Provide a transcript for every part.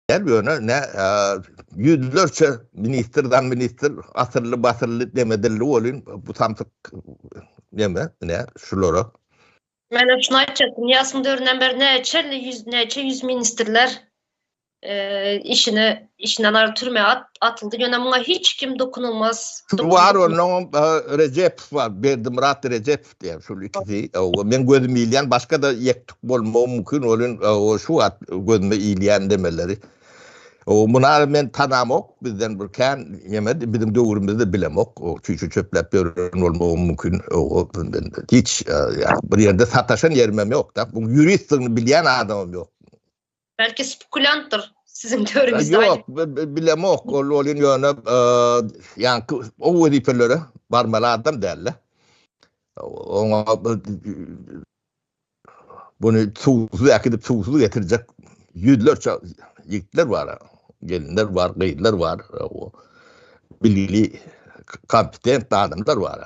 Gel ýöne ne ýüzlerçe ministr zam ministr asylly basylly deme dilli bolyn bu samsyk deme ne şulara. Men şunu aýtjakdym ýasyň döründen beri näçe elli ýüz näçe ýüz ministrler işini işinden aýryp türmä atyldy ýöne muňa hiç kim dokunulmaz. Bar ondan Rejep bar Berdimurat Rejep diýen şul ikisi o men gözüm ilýän başga-da ýektuk bolmagy mümkin olin o şu wagt gözüme ilýän demeleri o muna men tanamok bizden bir kän ýeme biziň döwrümizde bilemok o çüçü çöpläp ýören bolmagy mümkin o hiç bir ýerde sataşan ýerimem ýok da bu ýuristdigini bilýän adamym ýok Belki spekulyantdyr siziň teoriňizde. Yok, bilemok. Ol ol ýöne yani o wezipelere barmaly adam däl. Oňa bunu suwsuz äkidip suwsuz getirjek ýüzlerçe ýigitler bar. Gelinler bar, gyzlar bar. O bilgili kompetent adamlar bar.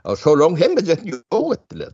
Şolaryň hemmejesini ýok etdiler.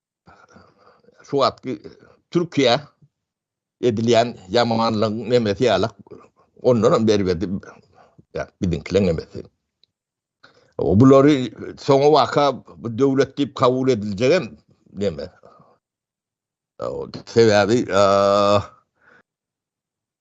şu wagtky Türkiýä edilýän ýamanlygyň nemesi ýalak ondan hem berbedi biziňkiler nemesi. O bulary soňa waka bu döwlet diýip kabul ediljek hem neme. Sebäbi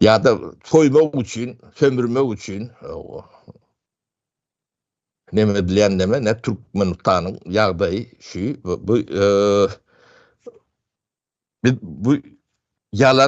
Ýa-da soýmak üçin, sömürmek üçin neme edilýän neme, ne Türkmenistanyň ýagdaýy şu, bu biz bu ýalan